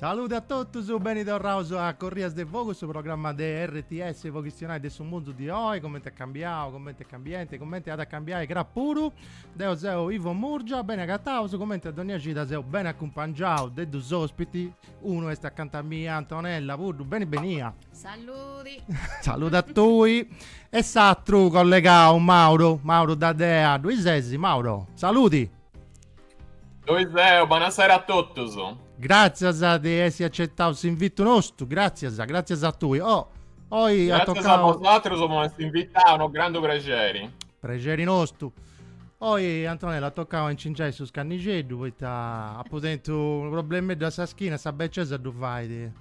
Salude a totus, beni torraus a Corrias de Fogu, su programma de RTS po chistionai de su mundu di oi, comenti est cambiau, comenti est cambiendi e comenti at a cambiai cra puru. Deu seu Ivo Murgia, beni agataus, comenti a dònnia cida seu beni acumpangiau de dus ospitis, unu est acanta a mei, Antonella Puddu, beni benia. Saludi. Salude a tui. E s'atru collegau, Mauro, Mauro D'Adea, ddoi ses Mauro? Saludi. Ddoi seu, buonasera a totus. Gràtzias de essi acetau s'invitu nostu, gràtzias, gràtzias a tui. Oh, oi gràtzias at tocau... Gràtzias a vosatrus po m'essi invitau, unu grandu prexeri. Prexeri nostu. Oi, Antonella, at tocau a incingiai su scannixeddu, poita apu tentu unu problemeddu a sa schina, sa becesa ddu fait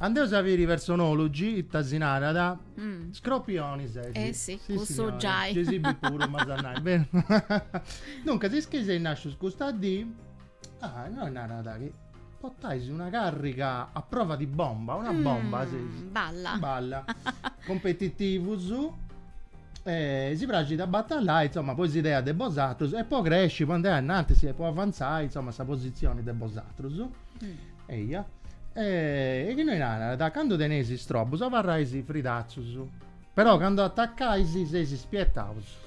Andeus a biri is personòlogus ita si narant scropioni ses. Eh si, cussu giai. Gei si bi puru m'as a nai beni. Duncas is chi seis nascius custa dì ah innoi narat chi potais una carriga a prova di bomba, una bomba seis. Balla. Balla. Competitivus e si praxit a batallai insoma po is ideas de bosatrus e po cresci, po andai a innantis e po avanzai insoma sa positzioni de bosatrus. Eia. E innoi narat, candu teneis istrobus abarrais fridatzus, però candu atacais seis ispietaus.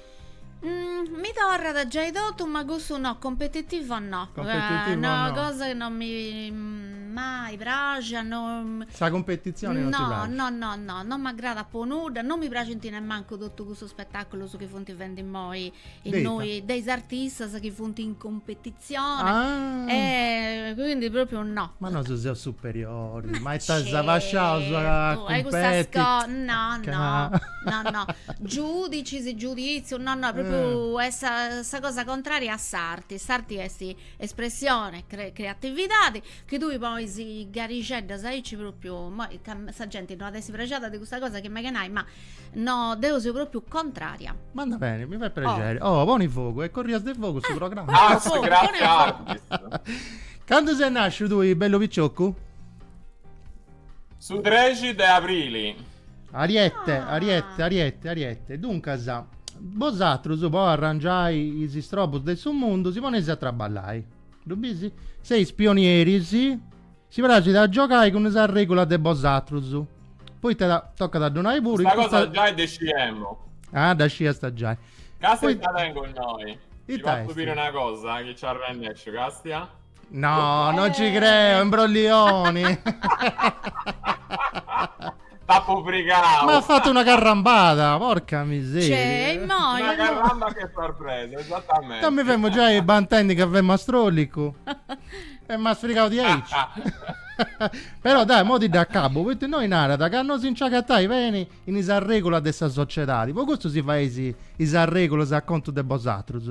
Mi torrat giai totu ma cussu no, competitiva no. Competitiva no. Una cosa chi non m'est mai praxia, non. Sa competizione non ti praxit. No, no, no, non m'agradat po nudda, non mi praxint nemmancu totu cussus spetaculus chi funt fendi immoi Innoi, de is artistas chi funt in competizioni ah. e quindi propriu no. Ma nosu seus superiori, ma ita si abasciaus a cumpeti. E custas cosas, no, no, no, no, giudicis, giuditziu, no, no, propriu est sa, sa cosa contraria a s'arti, s'arti est espressioni, creatividadi, chi tui ponis garixeddas aici propriu, immoi sa genti no at essi prexada de custa cosa chi megu 'e nai, ma No, deu seu propriu contraria. Ma andat beni, mi fait prexeri. Oh, oh poni fogu, est corrias de fogu su eh, programma. Ah, fogu, grazie Artis. Candu ses nasciu tui, bellu piccioccu? Su 13 de abrili. Ariete, ah. ariete, ariete, ariete. Duncas, bosatrus po arrangiai is istrobus de su mundu si poneis a traballai. Ddu bis? Seis pionieris Si praxit a giogai cun sas regulas de bosatrus, poita ca tocat a donai puru in custa. Custa cosa giai dda sciemu. Ah, dda sciasta giai. Castia dda tengu innoi. Ti fatzu biri una cosa chi ci arrennesciu, Castia. No, non ci creu, imbrollioni. T'apo frigau. M'as fatu una carrambada, porca miseria. Cioè, e mo Una carramba che sorpresa, esattamente. Ca mi femu giai bantendi ca femu astrolicu. e m'as frigau diaici. Però dai, mo ti dd'acabo, poita innoi narat ca no si nci agatais beni in is arregolas de sa sociedadi, po custu si faeis is arregolas a contu de bosatrus.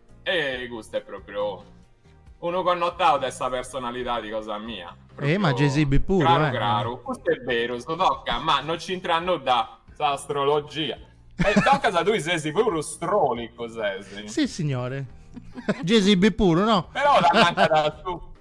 E custu est pròpriu unu connotau de sa personalidadi cosa mia. E ma Jay-Z puru, eh. Craru craru, custu est beru, e toca, ma no c'intrat nudda s'astrologia. E toca ca tui sesi puru strolicu, sesi. Sissignore. Jay-Z puru, no? Però t'ammancat su.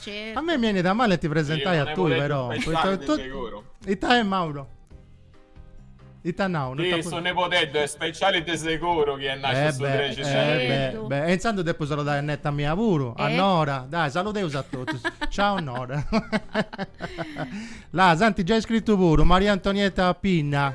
Certo. A me mi benit a mali ti presentai a tui però. Ita è Mauro? Ita nas? Sì, su nebodeddu è speciali de seguru chi è nasciu eh su 13 eh de eh beh, e intzandus depu saludai a netta mia puru, a Nora. Dai, saludeus a totus. Ciao Nora. Là, s'ant giai scrittu puru, Maria Antonietta Pinna.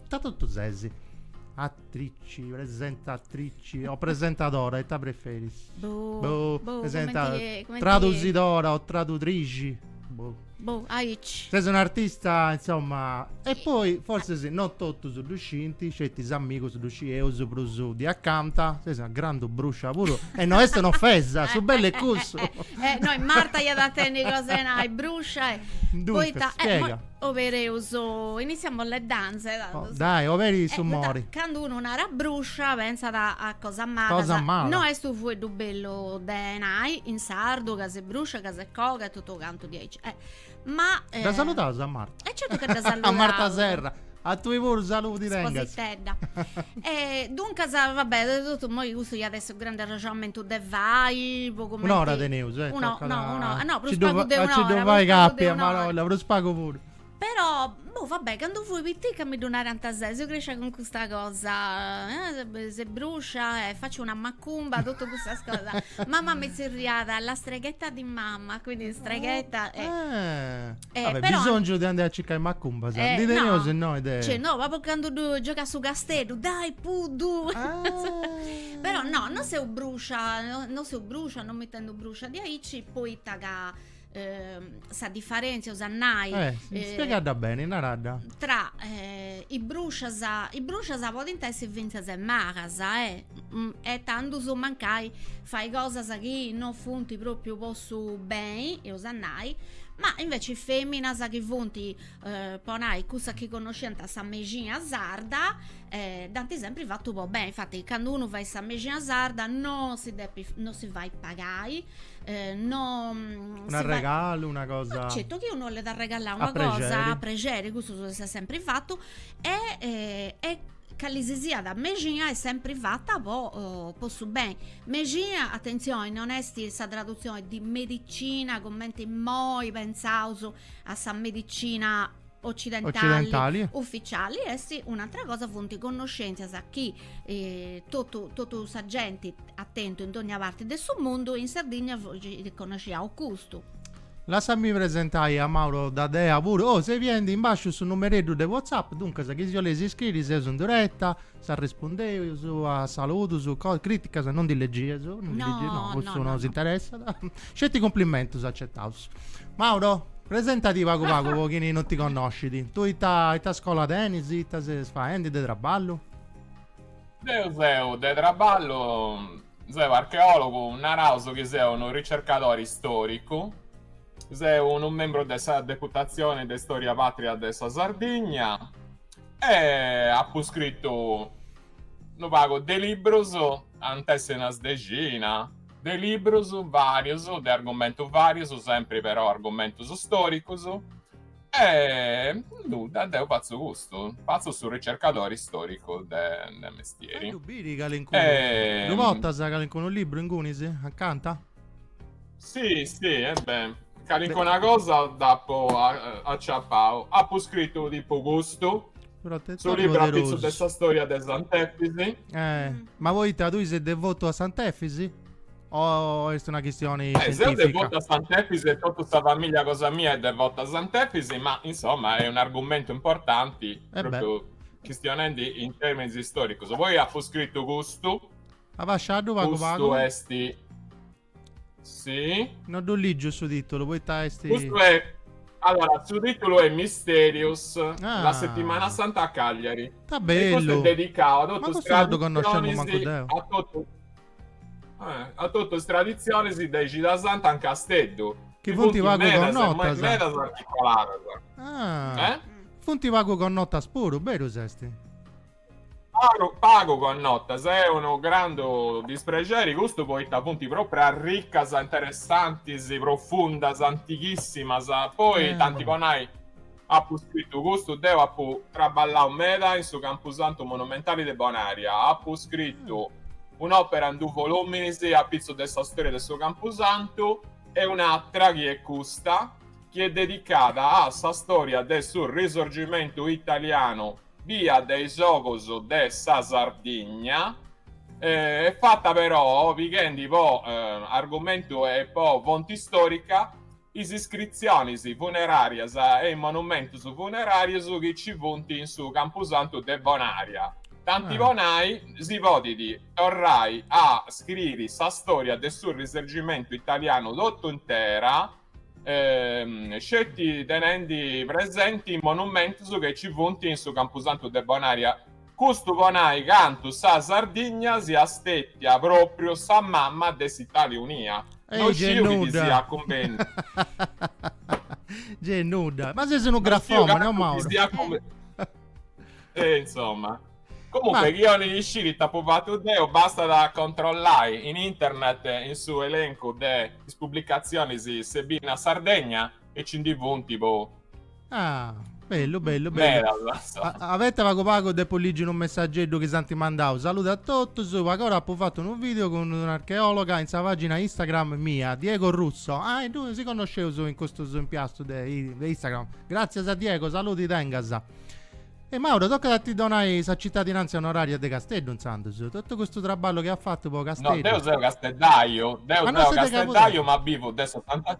Ita totu ses? Atrici, presentatrici o presentadora, ita preferis? Boh, boh, boh cumenti, cumenti... Tradusidora o tradutrixi? Boh. Boh, aici. Ses un'artista, insomma... E poi, forsis, non totus ddu scinti, sceti is amigus ddu scieus prus di acanta, ses una grandu bruscia puru, e no est un'ofesa, su bellu est cussu. Eh, no, Marta iat a tenni cosa 'e nai, bruscia e... Duncas, spiega. Obereus, iniziamo le danze. Dai, oberi su mori. Candu unu narat bruscia pentzat a cosas malas. No est unu fueddu bellu de nai in sardu ca ses bruscia, ca ses coga e totu cantu diaici. Ma. Dda saludaus a Marta. E certu chi dda saludaus. A Marta Serra. A tui puru saludi tengas. Spositedda. Duncas, va bè, de totu, imoi custu iat essi. su grandu arrexonamentu de fai po cumenti Un'ora teneus, eh, Uno, toccat no, uno, no, prus pagu de un'ora. Nci ddu fais capi a marolla, prus pagu puru. Però, boh, va bè, candu fui piticca mi ddu narant sès, seu crescia cun custa cosa, eh, ses bruscia e faccio una macumba, totu custas cosas. Mama mi zerriat la streghetta di mamma, quindi streghetta e Eh, Vabbè, però- bisongiu de andai a circai macumbas, Eh, ndi teneus no. innoi de... Cioè, no, po candu giogat su casteddu, dai puru. Ah. Però no, non seu bruscia, no- non seu bruscia, non m'intendu bruscia diaici, poita ca ehm, sa differenzia, est a nai, Eh, eh, spiegadda beni, naradda. tra eh, i bruscias, i bruscias podint essi fintzas e malas, eh Mm, e tandus mancai fai cosas chi no funt propriu po su beni, eus a nai, ma inveci feminas chi funt, eh, po nai, cussas chi connosciant sa mexina sarda, eh, dd'ant sempri fatu po beni, infati candu unu fait sa mexina sarda non si depit, no si fait pagai, eh, non... Un'arregalu, una cosa... Certu, chi unu 'ollit arregalai una cosa, a prexeri, cussu s'est sempri fatu e, eh, e Cali si siat mexia est sempri fata po po su beni. Mexia, atentzioni, non est sa tradutzioni di medicina cumenti immoi pensaus a sa medicina occidentali, Occidentali. uficiali, est un'àtera cosa, funt connoscèntzias chi totu totu sa genti at tentu in dónnia parti de su mundu, in Sardigna ddu connosciaus custu Lassami presentai a Mauro Dadea puru. Oh, seis biendi in basciu su numereddu de WhatsApp, duncas chi si 'oleis scriri seus in direta, s'arrespundeus a saludus, co- criticas non ndi leggieus, non ndi No, leggieus, no, no, cussu no, no no. s'interessat. Sceti cumplimentus acetaus. Mauro, presentati pagu pagu po chini non ti connoscit. Tui ita, ita scola tenis, ita ses faendi de traballu? Deu seu de traballu Seu archeòlogu, naraus chi seu unu ricercadori istòricu, seu unu membru de sa Deputatzioni de Istòria Pàtria de sa Sardigna e apu scritu unu pagu de librus, ant essi una dexina de librus, varius, de argumentus varius, sempri però argumentus stòricus. E nudda, deu fatzu custu, fatzu su ricercadori storicu de, de mestieri. Ddu biu calincunu, e... ddu portas calincunu libru ingunis, acanta? Sì, sì, e beh, calincuna cosa dd'apu aciapau. Apu scritu tipu custu, su libru apitzu de sa storia de Sant'Efisi. Eh, ma poita tui ses devotu a Sant'Efisi? O est una chistioni eh, sentifica? Seu devotu a Sant'Efisi e totu sa familia cosa mia est devota a Sant'Efisi, ma insomma est un'argumentu importanti, e eh propriu beh. chistionendi in terminis istoricus. Poi apu scritu custu. Abasciaddu pagu pagu. Custu est Sì. No ddu lìgiu su titulu, poita est... Custu est... Allora, su titulu est Misterius, ah. la settimana santa a Cagliari. Ta bellu. E custu est dedicau a totus is traditzionis, a totu... Eh, a totu is traditzionis de Cida Santa in Casteddu. Chi funt pagu medas, e mai connotas. medas articoladas. Ah, Eh? funt pagu connotas puru, beru s'est? Pagu pagu connotas, est unu grandu disprexeri custu poita funt propriu arricas, interessantis, profundas, antighissimas, poi Eh. tanti po nai, Apu scritu custu, deu apu traballau meda in su campusantu monumentali de Bonaria, apu scritu un'òpera in dus volùminis a pitzus de sa stòria de su campusantu e un'atra, chi est custa, chi est dedicada a sa stòria de su Risorgimentu italianu bia de is ogus de sa Sardigna, est fata però, pighendi po argumentu e po fonti stòrica, is iscritzionis funeràrias e is monumentus funeràrius chi nci funt in su campusantu de Bonària. Tanti po nai, si podit torrai a scriri sa stòria de su Risorgimentu italianu totu intera, sceti tenendi presenti is monumentus chi nci funt in su campusantu de Bonària. Custu po nai cantu sa Sardigna siat stètia pròpriu sa mama de s'Itàlia unia. No sciu chi ti siat cumbènniu. Gei nudda. Ma ses unu grafòmane, o Mauro? E insomma. Comunque, chi 'olit isciri it'apu fatu deu, bastat a controllai in internet in su elencu de is publicatzionis Sebina Sardegna. e ci ndi funt tipo Ah, bellu, bellu, bellu. Avete pago pago de polliggi un messaggeddu che santi mandau. Saluti a totus. Agora apu fatto un video con un'archeologa in sa pagina Instagram mia, Diego Russo. Ah, e due si conosceus in questo impiastu de, de Instagram. Grazie a Diego, saluti tengas. E Mauro, tocca da ti donai sa cittadinanza onoraria de Casteddu, inzandus. Tutto questo traballo che ha fatto po' Casteddu. No, deo seo casteddaio, deu ah, seo casteddaio, ma vivo de 70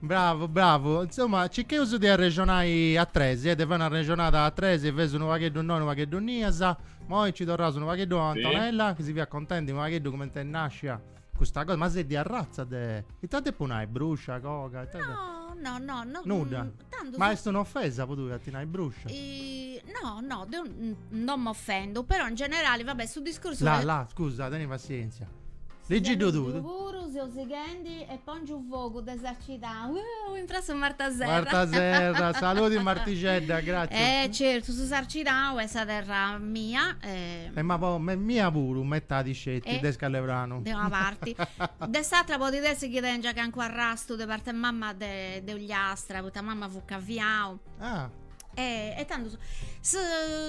Bravu, bravu. Insomma, circheus de arrexonai a tres, eh, de fai una arrexonada a tres, feus unu pagheddu innoi, unu pagheddu innias, moi nci torraus unu pagheddu a Antonella, chi si fiat contendi unu pagheddu cumenti est nascia custa cosa, ma ses de arratza de... Ita depu nai, bruscia, coga, ita... No, no, no, no... Nudda? Tandu... Ma est un'ofesa po tui a ti nai bruscia? No, no, deu non m'ofendu, però in generali, va bè, su discursu... La, la, scusa, teni passienzia. Ligi-ddu tui. Deu puru seu sighendi e pongiu fogu de Sarcidau. Unu imprassu Marta Serra. Marta Serra, saludi Martixedda, gratzi. E certu, su Sarcidau est sa terra mia. E ma mia puru, metadi sceti de Scalepranu. De una parti. De s'atra podit essi chi tengia calincunu arrastu de parte mamma de Ogliastra, poita mama fut Caviau. Ah. E, e tandus, su,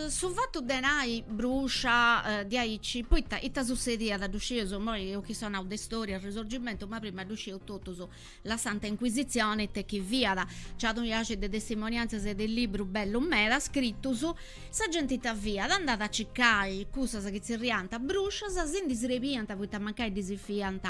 su fatu de nai bruscia diaici, poita ita sussediat, ddu scius, immoi eus chi seu nau de storia e risorgimentu, ma prima ddu scius totus, la Santa Inquisizione, it'est chi fiat, nc'at unu biaxi de testimonianzias e de librus bellus meda scritus, sa genti ita fiat, andat a circai cussas chi zerriant bruscias, si ndi srebiant poita mancai ddis fiant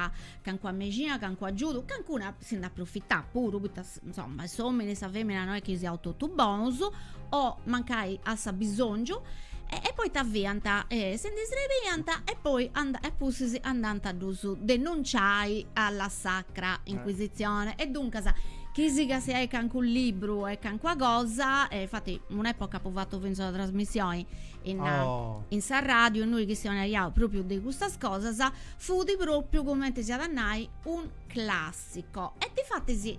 Cancuna mexina, cancu agiudu, cancuna si nd'at profitat puru, poita insoma s'omini e sa femina no est chi siaus totu bonus, o mancai a s'abisongiu, e poi ita fiant si ndi srebiant e poi e apustis andant a ddus denunciai a la Sacra Inquisitzione e duncas chi siga si ait cancu libru e cancuna cosa, e infati un'epoca apu fatu finzas una trasmissioni in sa radiu innui chistionaiaus propriu de custas cosas, Fut pròpiu, cumenti si at a nai, un clàssicu. E difatis,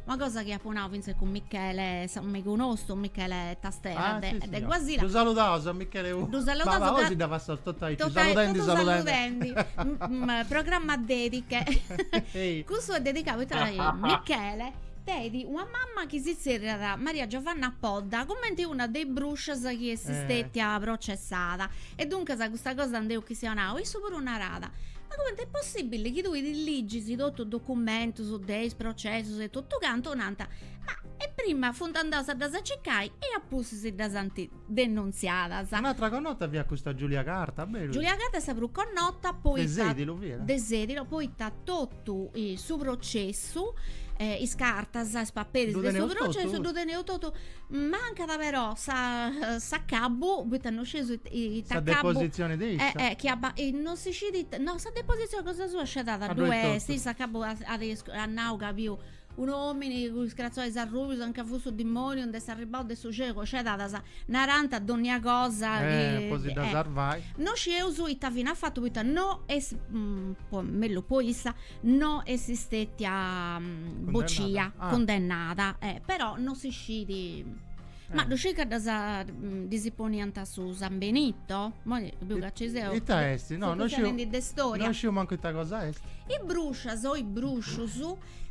una cosa chi apu nau fintzas cun Michele, s'amigu nostru, Michele Tastera, de de Guasila. Ddu saludaus a Michele puru. Ddu saludaus. Ma oi si dda passaus totu aici, saludendi, saludendi. Programma dediche. Cussu est dedicau poita ca Michele tenit una mama chi si zerriat Maria Giovanna Podda, cumenti una de is bruscias chi est stetia processada E duncas custa cosa nd'eus chistionau, issu puru narat, ma comente est possibili chi tui ti ligis totu documentus de is processus e totu cantu, nant, ma e prima funt andaus a ddas circai e apustis ddas ant denunziadas. Un'atra connota fiat custa Giulia Carta, beru. Giulia Carta est sa prus connota poita. De Sedilo fiat. De Sedilo, poita totu totu su processu, eh, is cartas, is paperis de su processu, ddu teneus totu, mancat però sa, s'acabu, poita no scideus ita acabu, sa deposizioni de issa, eh, eh, chi abba, non si scidiit, no sa deposizioni cosa sua scedada ddu est, a s'acabu at nau ca biu Unu omini cun is cratzois arrubius anca fut su dimoniu nd'est arribau de su celu scedadas narant a donnia cosa chi Eh po si dha sarvai. No scieus ita fini at fatu poita no est mellus po issa no est stetia bocia cundennada eh però no si scit ma dhu scis ca dhas dhis poniant su san benito moi dhu ca ci seus Ita esti no no sciu de storia no sciu mancu ita cosa esti. Is bruscias o is bruscius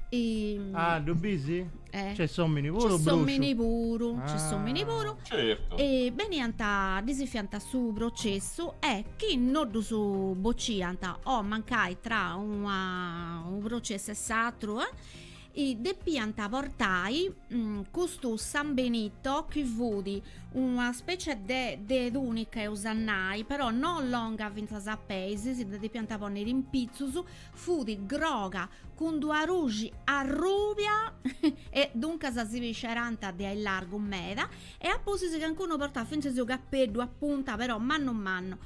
E... Ah, dhu bis? Eh. Ca is ominis puru, ca is ominis puru, ah. ca is ominis puru. Certo. E beniant, dhis fiant su processu e chi non dhus bociant o mancai tra una, un processu e s'atru, eh? i depiant portai mm, custu San Benito chi fut una specie de, de tunica eus a nai, però non longa fintzas a peis, si dda depiant ponniri in pitzus, fut groga cun d-una gruxi arrùbia e duncas si biesserant de atesu largu meda e a pustis cancunu portàt fintzas unu capeddu a punta però mannu mannu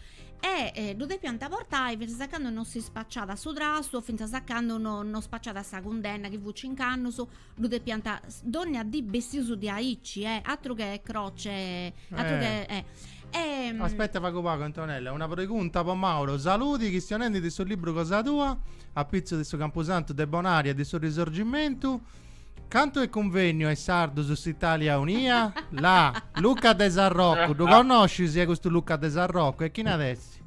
e ddu depiant portai fintzas a candu non si spaciàt su trastu o fintzas a candu non spaciàt sa cundenna chi fut cincu annus Ddu depiant dònnia dì bessius de aici, eh! Atru che croce, atru che, eh! E. Aspetta pagu pagu Antonella, una pregunta po Mauro, saludi, chistionendi de su libru cosa tua, apitzu de su campusantu de Bonaria e de su risorgimentu, cantu est cunvenniu a is sardus s'Italia unia? La. Luca de Sarrocu, ddu connoscis custu Luca de Sarrocu e chini est?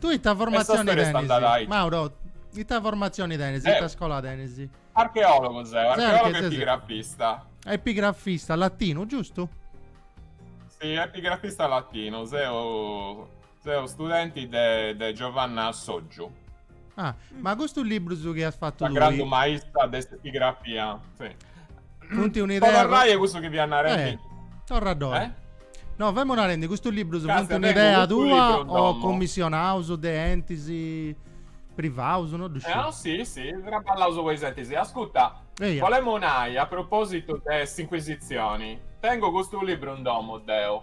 Tu ita formatzioni tenis? Mauro, ita formatzioni tenis? Ita scola tenis? Archeologo seu, archeologo e epigrafista. Epigrafista, latinu, giustu? Si, epigrafista latinu, seu, seu studenti de, de Giovanna Sotgiu. Ah, ma custus librus chi as fattu Sa lui? grandu maista de s'epigrafia, sì. Funti un'idea... Ora rai custu chi fias narendi? Eh, torra doi. Eh? No, femu narendi, custus librus funti un'idea tua o commissionaus de entis privaus, no ddu sciu. Eh, sì, sì, traballaus po is entis. Ascuta, Eia. volemu nai a propositu de s'Inquisitzioni, tengu custu libru in domu deu.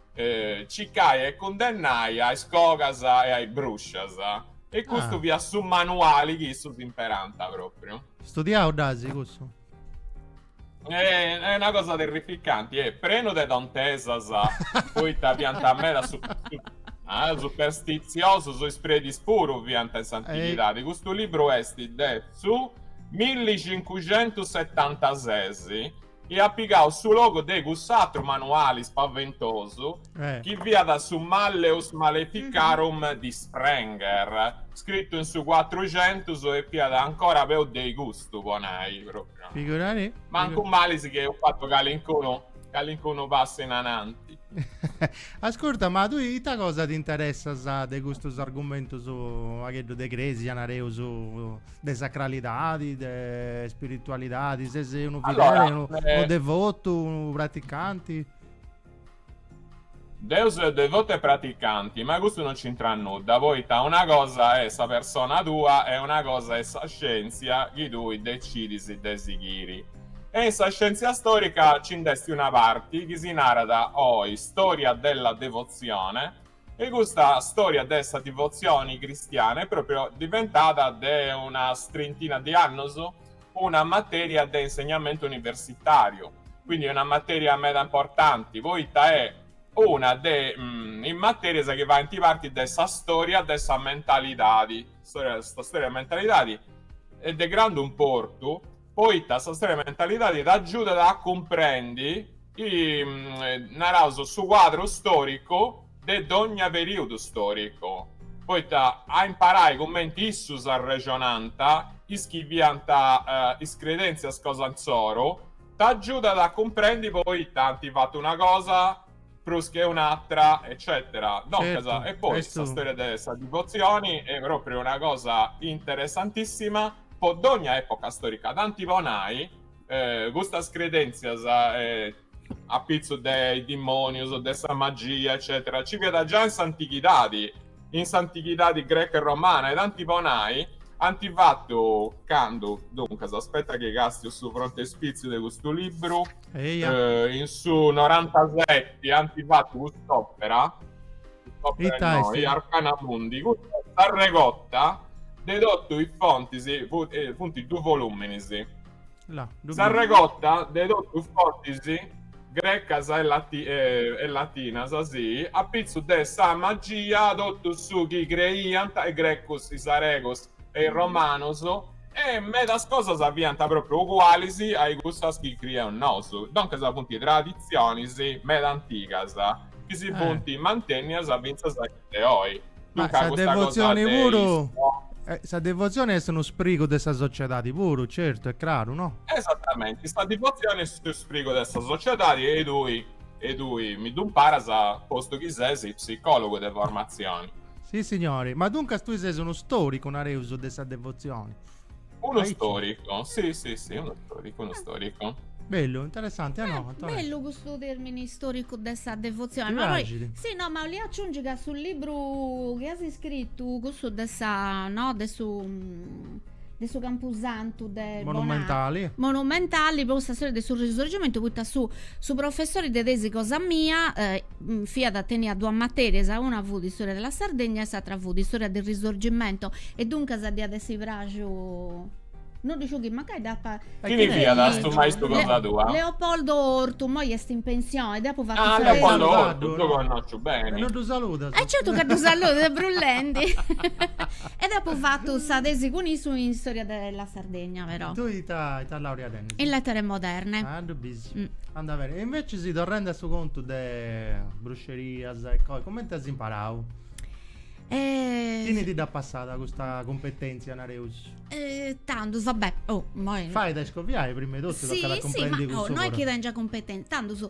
cicai e cundennai a is cogas e a is bruscias. E custu ah. fiat su manuali chi issus imperant propriu. Studiau dd'asi cussu? Eh, est una cosa terrificanti, est eh, prenu de tontesas, poita fiant meda su, su, ah, superstiziosos, is predis puru fiant in s'antighidadi. Eh. Custu libru est de su 1576 e at pigau su logu de cuss'atru manuali spaventosu chi fiat su Malleus Maleficarum di Sprenger, scritu in su cuatruxentus e fiat ancora peus de custu, po nai pròpriu. Figurati. Mancu malis ch'eus fatu calincunu calincunu passu in ananti. Ascurta, ma tui ita cosa t'interessas de custus argumentus fagheddu de crèsia, nareus, de sacralidadi, de spiritualidadi, sesi unu fideli, allora, unu, eh... unu devotu, unu praticanti? Deu seu devotu e praticanti, ma custu non c'intrat nudda, poita una cosa est sa persona tua e una cosa est sa scientzia chi tui decidis de sighiri. E in sa scientzia storica ci nd'est una parti chi si narat oi storia della devozione, E custa storia de sa divotzioni cristiana est pròpriu diventada de una trintina de annos una matèria de insegnamentu universitàriu, quindi una matèria meda importanti, poita est una de is matèrias chi faint parti de sa storia de sa mentalidadi, sa storia de sa mentalidadi est de grandu importu, poita sa storia de mentalidadi t'agiudat a cumprendi, naraus, su cuadru storicu de dogna periudu storicu, poita a imparai cumenti issus arrexonant, is chi fiant is credentzias cosa insoru, t'agiudat a cumprendi poita ant fatu una cosa prus che un'atra, eccetera. Duncas, e poi sa storia de sa divotzioni est propriu una cosa interessantissima. po dogna epoca storica tanti po nai custas credentzias a pitzu de is dimonius de sa magia eccetera nci fiat già in s'antighidadi in s'antighidadi greca e romana e tanti po nai anti fatu candu duncas aspetta chi castiu su frontispitziu de custu libru Eia. Eh, in su 97 anti fattu cust'opera, cust'opera Ita noi, est? Arcana Mundi, custa s'arregotta de tottu is fontis, fu- eh, funt duus voluminis, Là, ddu biu. s'arregotta de tottu is fontis grecas e lati- eh, e latinas, si, apitzus de sa magia, tottu su chi creiant is grecus, is aregos, e is romanos, e medas cosas fiant pròpriu ugualis a-i cussas chi crieus nosu, doncas funt traditzionis meda antigas chi si funt mantennias fintzas a die de oi. Ma sa devotzioni puru, sa devotzioni est unu sprigu de sa sociedadi puru, certu, est craru, no? Esatamenti, sa devotzioni est unu sprigu de sa sociedadi e tui E tui mi ddu imparas postu chi ses psicòlogu de formatzioni. Si, signori. Ma duncas tui ses unu stòricu, nareus, de sa devotzioni. Unu Aici. stòricu, si, si, si, unu stòricu, unu stòricu. Bellu, interessanti, a no, Eh, Antonella? bellu custu tèrmini stòricu de sa devotzioni. Ti Ma poi, praxit? si, no, ma 'olìa aciungi ca su libru chi as iscritu, cussu de sa, no, de su, de su campusantu de monumentali Bona, monumentali po sa storia de su risorgimentu poita su su professori de tesi cosa mia eh, fiat teniat duas materias una fut istoria della Sardegna e s'atra fut istoria del risorgimento e duncas dd'iat essi praxu non ddu sciu chi mancai dd'apa e chini fiat stu maistu cosa tua? Leopoldo Ortu immoi est in pensioni dd'apu fatu ah Leopoldo Ortu ddu connosciu beni e non ddu saludas e certu ca ddu saludu brullendi E dd'apo fatu sa tesi cun issu in Storia della Sardegna, però. Tui ita ita laureada in. In Lettere Moderne. Ah, ddu bisi. Mm. Anda beni. E invecis, torrendi a su contu de bruxerias e cos. Cumenti as imparau? Eh. Chini ti dd'at passada custa cumpetenzia, nareus? Eh, tandus, va bè. Oh, moi. Fait a iscoviai, prima 'e totu, tocat a cumprendi cussu puru. Sì, sì, ma, oh, no est chi tengia cumpetenza. Tandus,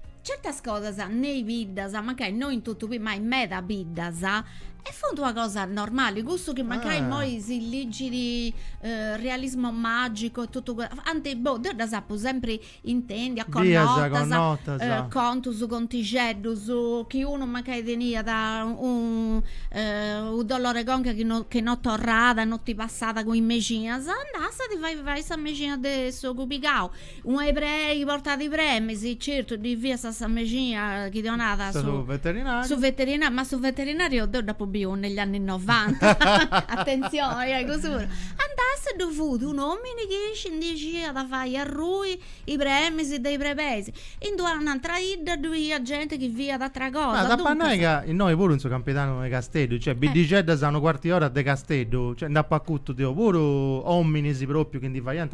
Certas cosas nei biddas, mancai no in totu biddas, ma in meda biddas, e funt una cosa normali, cussu chi mancai ah. immoi si ligit uh, realismo magico e totu cantu boh, deu ddas apu sempri intèndias connotas, connotas. Uh, contus, contixeddus, chi unu mancai teniat un uh, u' dolor' 'e conca chi no, che no torrada, no ti passada cun i mexinas, andàs a ti fai fai sa mexina de s'ogu pigau Ua brebei portat i bremis, certu ddi fiat sa sa mexina chi ddi 'onat su Su veterinariu Su veterinariu, ma su veterinariu deu dd'apu biu negli anni novanta, attenzione, e cussu puru, andàs a, ddu fut un'omini chi isci ndi isciat a fai arrui i bremis de i brebeis, in d'u' antra 'idda ddu iat genti chi fiat atra cosa, Ma t'apu a nai ca innoi puru in su campidanu 'e Casteddu, cioè biddixeddas a unu cuartu 'e ora de Casteddu, cioè nd'apu acutu deu puru ominis propriu chi ndi faiant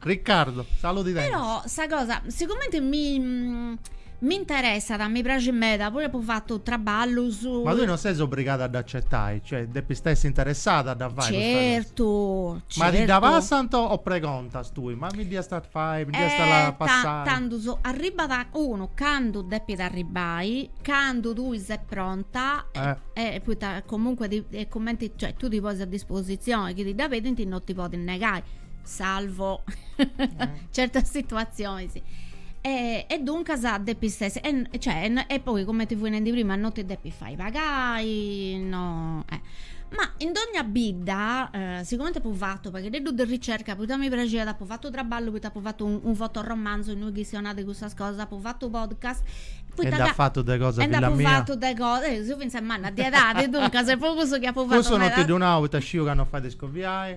Riccardo, saludi tengas. Però sa cosa, sigumenti mi mi interessat, mi praxit meda, puru apu fatu traballus. Ma tui non ses obrigada a dd'acetai, cioè depis essi interessada a dda fai custa cosa. Certu, certu. Ma ti dda passant o pregontas tui, ma mi dd'iast a fai, mi dd'iast a la passai? Tandus arribbat unu candu depit arribbai, candu tui ses pronta e poita comunque ti, cumenti, cioè tui ti ponis a disposizioni chi ti dda pedint non ti podis negai. salvo certas situatzionis. E, e duncas depis essi, e, cioè, e poi cumenti fui nendi prima, non ti depis fai pagai, no, eh. Ma in dogna bidda, eh, sigumenti apu fatu u' pagheddeddu de ricerca poita mi praxiat, apu fatu traballu poita apu fatu un, un fotoromanzu innui chistionat de cussas cosas, apu fatu podcast E nd'at fatu de cosa e filla mia? Nd'apu fatu de cosa, eh, seu fintzas manna de edadi, duncas est po cussu chi apu fatu meda. Cussu non ti ddu nau poita sciu ca non fait de scoviai.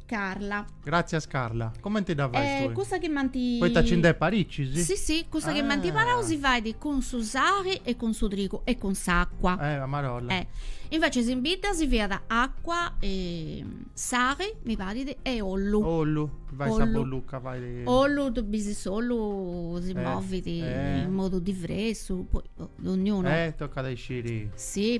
Carla. Gràtzias Carla. Comenti dda fais eh, tui? Cussa chi manti... Poita ci nd'est paricis? Sì, sì, cussa ah. chi m'ant imparau si fait cun su sari e cun su trigu e cun s'acqua. Eh, a marolla. Eh. Invece in bidda si fiat acqua, e sari, mi parit, e ollu. Ollu, fait, ollu, sa bollucca, fait... Ollu, tui bis s'ollu si eh, movit eh. in modu diversu, poi ognuno... Eh, toccat a isciri. Sì,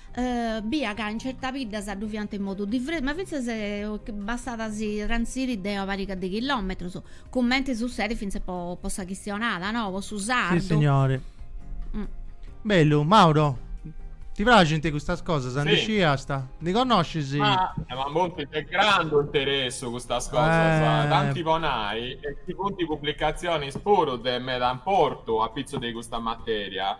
Bia ca in certas biddas ddu fiant in modu diversu, ma fintzas bastat a si transiri de una pariga de chilòmetrus, cumenti sutzedit fintzas po po sa chistionada, no, po su sardu. Sissignori. Bellu, Mauro, ti praxint custas cosas? Si. Ndi sciast? Ndi connoscis? Ma ma funt de grandu interessu custas cosas, tanti po nai ci funt pubblicatzionis puru de meda importu apitzus de custa materia.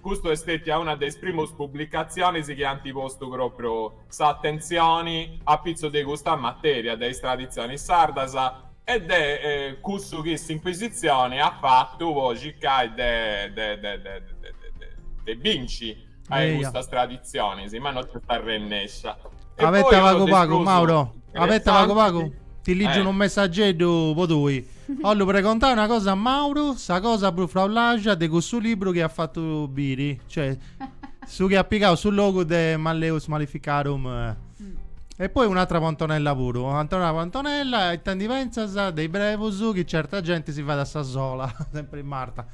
Custu est stètia una de is primus publicatzionis chi ant postu pròpriu s'atentzioni apitzus de custa matèria, de is traditzionis sardas e de cussu chi s'Incuisitzioni at fatu po circai de binci a custas traditzionis, ma no nc'est arrennescia. Abeta pagu pagu, Mauro, abeta pagu pagu, ti ligiu unu messageddu po tui. Ollu pregontai una cosa a Mauru, sa cosa prus fraulaxia de cussu libru chi at fatu biri, cioè su chi at pigau su logu de Malleus Maleficarum mm. e poi un'atra po Antonella puru, Antonella po Antonella, ita ndi pentzas de is brebus chi certa genti si fait a sa sola, sempri Marta.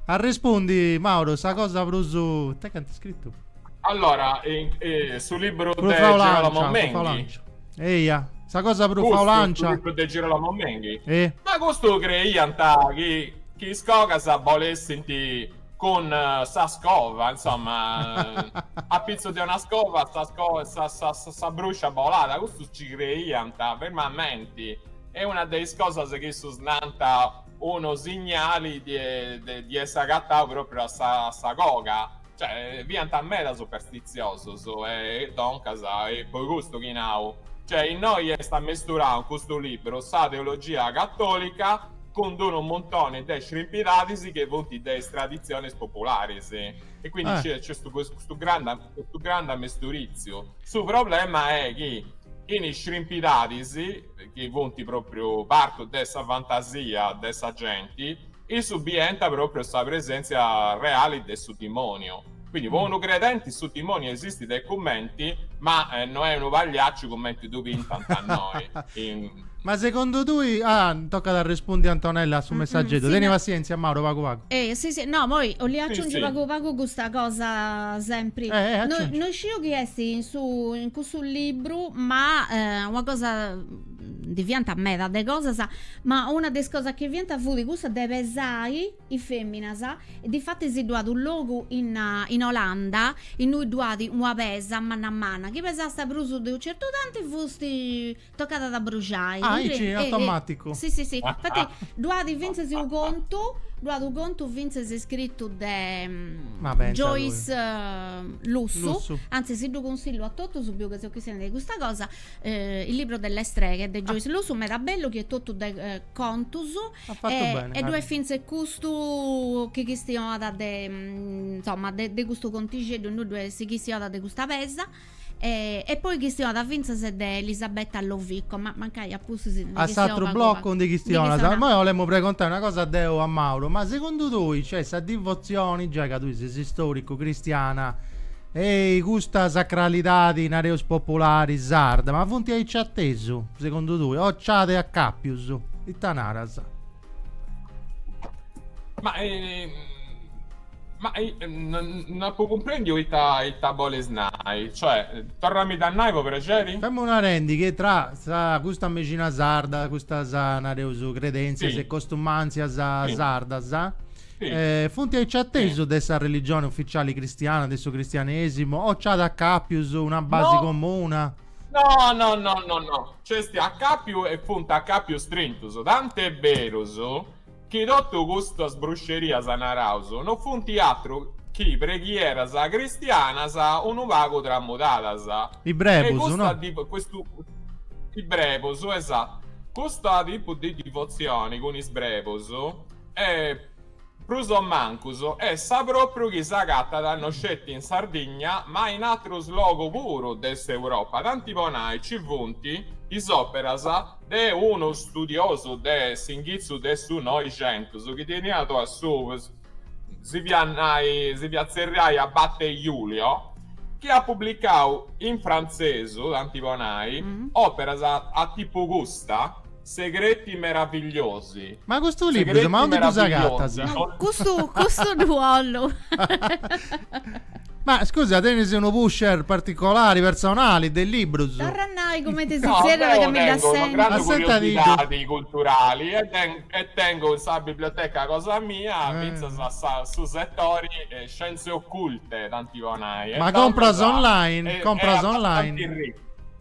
Arrespundi Mauru, sa cosa prus, ita cantu at scritu? Allora, eh, eh, su libru de Girolamo Menghi Eia, sa cosa prus faulancia. Custu de Girolamo Menghi. E? Ma custu creiant chi, chi is cogas bolessint cun eh, sa scova, insomma, a pitzu de una scova sa, sco- sa, sa, sa, sa bruscia bolàt, custu ci creiant fermamenti. E una de is cosas chi issus nant unu signali de, de, de essi agatau propriu a sa, a sa coga. Cioè, fiant meda superstitziosos, e doncas, e poi custu chi nau, cioè, innoi est ammesturau in custu libru sa teologia catòlica cun d'unu muntoni de scrimpidadis chi funt de is traditzionis popularis. E quindi ah. nc'est custu grandu, custu grandu ammesturitziu. Su problema est chi in is scrimpidadis, chi funt pròpriu partu de sa fantasia de sa genti, issus bient pròpriu sa presèntzia reali de su dimòniu. Quindi po unu credenti su dimòniu esistit e cumenti, ma no est unu pagliacciu cumenti ddu pintant a innoi in. Ma segundu tui, ah, tocat a arrespundi Antonella a su messageddu, teni passièntzia Mauro, pagu pagu. Si si, no, poi 'ollu aciungi pagu pagu custa cosa sempri, no isciu chi est in su in cussu libru. puru, ma eh, una cosa ndi fiant meda de cosas, ma una de is cosas chi fiant fut custa de pesai is feminas e difatis si ddu at u logu in in Olanda innui ddu at una pesa manna manna, chi pesast prus de u certu tanti fusti tocada a bruxai. Ah, aici, eh, eh, automaticu. Si si si, infati ddu at fintzas u contu, ddu at u contu fintzas scritu de Ma pensa tui. Joyce Lussu, Lussu, anzi si ddu consillu a totus biu chi seu chistionendi de custa cosa eh, il libro delle streghe de Joyce ah. Lussu meda bellu chi est totu de eh, contus e, bene, e ddu est fintzes custu chi chistionat de mm, insomma de, de custu contixeddu innui ddu si chistionat de custa pesa e, e poi chistionat fintzes de Elisabetta Lovico ma mancai a s'atru blocu ndi chistionas, moi 'olemu pregontai una cosa deu a Mauru, ma segundu tui nc'est sa divotzioni, giai ca tui ses istoricu, cristiana, e custa sacralidadi, nareus populari, sarda, ma funt aici atesu, segundu tui, o nci at acapius, ita naras? Ma, eh, ma eh, non, non apo cumprendiu ita, ita boles nai, cioè, torramidda a nai po prexeri? Femu narendi chi tra sa custa mexina sarda, custas, nareus, credentzias e costumantzias sardas, eh, funt aici atesu de sa religioni uficiali cristiana, de su cristianesimu, o nci at acapius una basi comuna? No no no no no, nc'est acapiu e funt acapius strintus, tant'est berus chi totu custas bruxerias naraus no funt atru chi preghieras cristianas unu pagu tramudadas. Is brebus, no? Is brebus, esatu. Custu tipu de divotzioni cun is brebus est. Prus o mancus, est sa pròpriu chi s'agatat non sceti in Sardigna ma in atrus logu puru de s'Europa, tanti po nai ci funt is òperas de unu studiosu de s'inghitzu de su Noixentus chi teniat a su si fiat nai si fiat tzerriai Abate Julio chi at publicau in frantzesu, tanti po nai, òperas a tipu custa. Segreti meravigliosi. Ma custu libru, ma onde ddus agatas? Custu, custu ddu 'ollu. Ma scusa, tenis unu pusher particolari, personali, de librus? Torra a nai cumenti si zerriat ca mi ddu sinnu. No, deu tengu una grandu curiosidadi culturali e tengu in sa biblioteca cosa mia fintzas su setori scienze occulte, tanti po nai. Ma compras online? Compras online?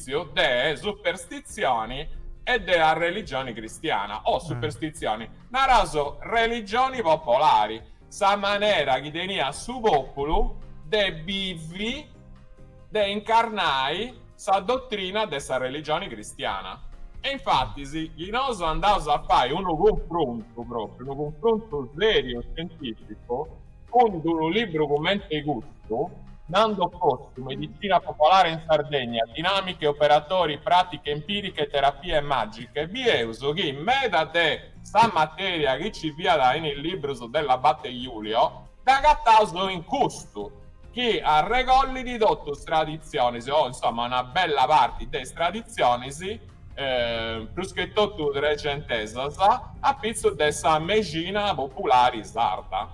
amesturìtziu de superstitzioni e de arreligioni cristiana, o superstitzioni, naraus religioni popolari, sa manera chi teniat su pòpulu de bivi, de incarnai sa dotrina de sa religioni cristiana. E infatis, chi nosu andaus a fai unu cunfrontu pròpriu, unu cunfrontu sèriu e scientìficu, Cund unu libru cummente i custu, Nando Cossu, Medicina popolare in Sardegna, dinamiche, operatori, pratiche empiriche, terapie magiche, bieus chi meda de sa materia chi ci fiat in is librus de l'abate Julio, dd'agataus in custu, chi arregollit totu is traditzionis, o insoma una bella parti de is traditzionis, prus che totu trexentesas, a pitzus de sa mexina populari sarda.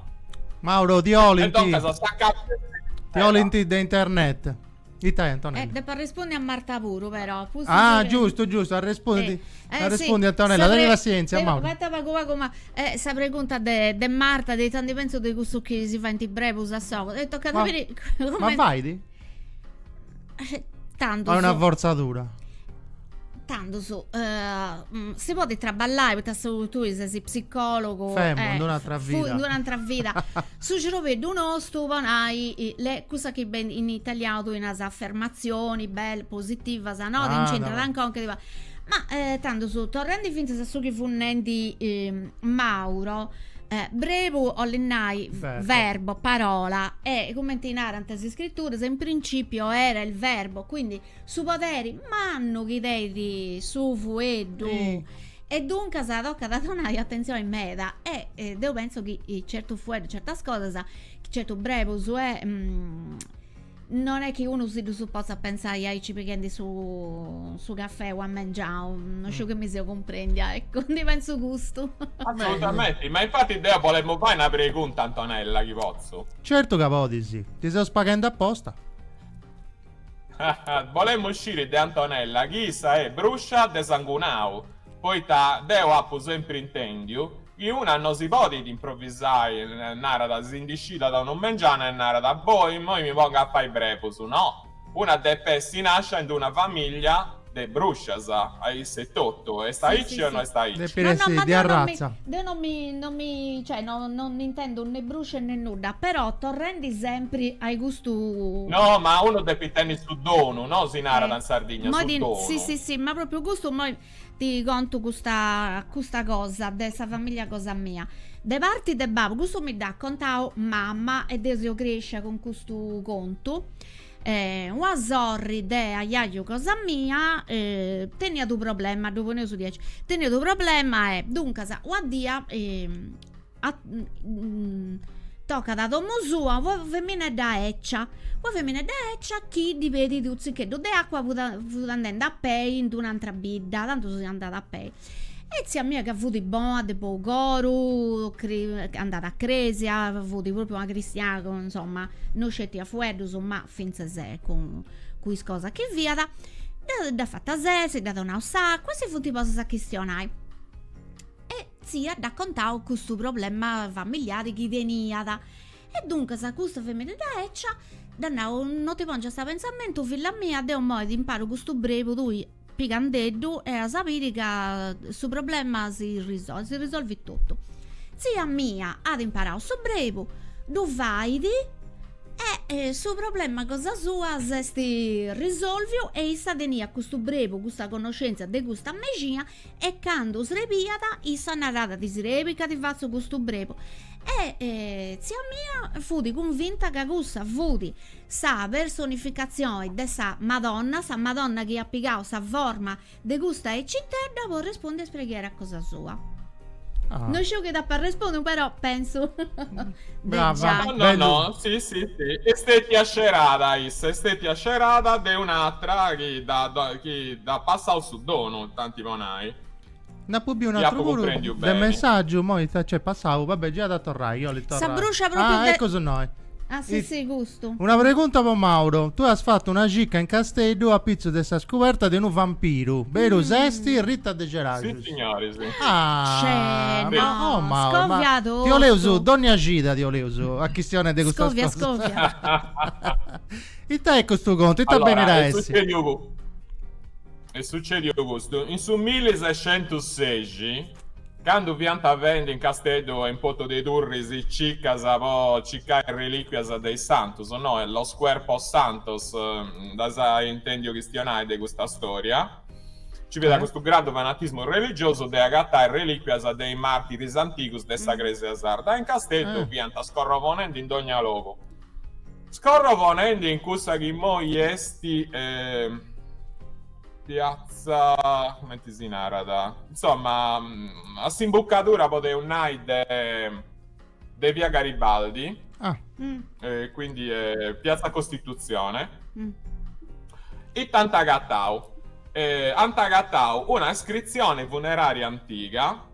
Mauro, ti 'olint. Ti 'olint de internet. Ita est, Antonella? Eh, depu arrespondi a Marta puru, però. Pustis Ah, de- giustu, giustu, arrespondi. Eh, eh, Arrespondi, sì, Antonella, sa pre- teni passienzia, de- Mauro. Fatta pagu pagu, ma eh, sa pregunta de, de Marta, de ita ndi pentzu de cussu chi si faint brebus a s'ogu. E tocat a Ma- biri Ma comente- faidi? Tandus. Est una forzadura. Tandus. Uh, si podi traballai, poita su, tui sesi psicologu. Femu, eh, un'altra vida. Fui, un'altra vida. su ciorbeddu nostu po nai, is cosas chi ben, in italiau tui nas affermazioni, bel, positivas, no? Ah, chi intra ancon, che ti pa... Ma eh, tandus, torrendi finzas a su chi fut nendi eh, Mauro. Eh, brebu 'olit nai Verbo. verbo, parola, e cumenti narant is Iscrituras, in principio era il Verbo, quindi su poderi mannu chi tenit su fueddu. Sì. E duncas tocat a donai atentzioni meda e e deu pentzu chi certu fueddu, certas cosas, certu brebus e Non est chi unu si ddus potzat pentzai aici pighendi su cafè a mengiau, no sciu chi mi seu cumprendia, eccu, deu pentzu custu. Assolutamente, ma infati deu bolemu fai una pregunta Antonella, chi potzu? Certu ca podis, ti seus paghendi aposta. Bolemu sciri de Antonella chi issa est bruscia de sangunau, poita deu apu sempri intendiu Chi una no si podit improvisai, narat, si ndi scidat a unu mengianu e narat, boh, immoi mi pongu a fai brebus, no, una depet essi nascia in d'una famiglia de bruscias, aici etotu, est aici o no est aici? No, no, ma deu non mi, deu non mi, non mi, cioè, no, no intendu ne bruscia ne nudda, però torrendi sempri ai custu. No, ma unu depit tenni su donu, no si narat in Sardigna, su donu. Sì, sì, sì, ma propriu custu immoi Ti contu custa custa cosa de sa familia cosa mia. De parti de babu, custu mi dd'at contau mama e deu seu crescia cun custu contu, una sorri de ajaju cosa mia teniat u' problema, ddu poneus diaici, teniat u' problema e duncas una dì tocat a domo sua una feminedda eccia una feminedda eccia chi ddi pedit unu tziccheddu de acua fut andende a pei in d'una antra bidda tantu si andat a pei e tzia mia ca fut bona de bou coru andat a cresia fut propriu una cristiana chi insomma non scetiat fueddus ma fintzas cun is cosas chi fiat dd'at fata sessi dd'at donau s'acua e si funt postas a chistionai e tzia dd'at contau custu problema familiari chi teniat e duncas custa feminedda ecia dd'at nau, no ti pongias a pensamentu filla mia, deu moi ti imparu custu brebu tui pigandeddu e as a biri ca su problema si risolvit, si risolvit totu. Tzia mia at imparau su brebu, ddu fait e su problema cosa sua s'est risolviu e issa teniat custu brebu, custa connoscentzia de custa mexina E candu srebiat, issa naràt, Ti srebit ca ti fatzu custu brebu. E tzia mia fut cunvinta ca cussa fut sa personificatzioni de sa Madonna, sa Madonna chi iat pigau sa forma de custa ecitedda po arrespundi a is preghieras cosa sua. Ah. No sciu chi dd'apu arrespundiu, però pensu de Brava. giai. No, no, Bellu. no, si, si, si. Est stètia scerada issa, est stètia scerada de un'atra chi dda dda chi dd'at passau su. donu, tanti po nai. Nd'apu biu un'atru puru de messaggiu, mo ita nc'est passau, va bè giat a torrai, iolit torrai. Sa bruscia propriu de Ah, eccu su noi. Ah si si custu. Una pregunta po Mauro, tue as fattu una cicca in Casteddu a pitzu de sa scuberta de unu vampiru, berus est? Rita de Ceraxus. Si signori si. Ah, ma oh Mauro, ma ti 'oleus dònnia cida ti 'oleus a chistionai de custas cosas. Scovia scovia. Ita est custu contu, ita benit a essi? Est sucediu custu, in su milli-sescentus-sexi, candu fiant fendi in Casteddu e in Portu de Turris cicas po cicai relìquias de is santus, no, los cuerpos santos, nd'as intendiu chistionai de custa stòria, nci fiat custu grandu fanatismu religiosu de agatai relìquias de is màrtiris antigus de sa Crèsia sarda e in Casteddu fiant scorrovonendi in dogna logu. Scorrovonendi in cussa chi immoi est eh, piazza, comenti si narat, insomma a s'imbucadura podeus nai de de via Garibaldi, ah. eh, quindi eh, piazza Costituzione, mm. e ita ant agatau eh, ant agatau una iscrizione funeraria antiga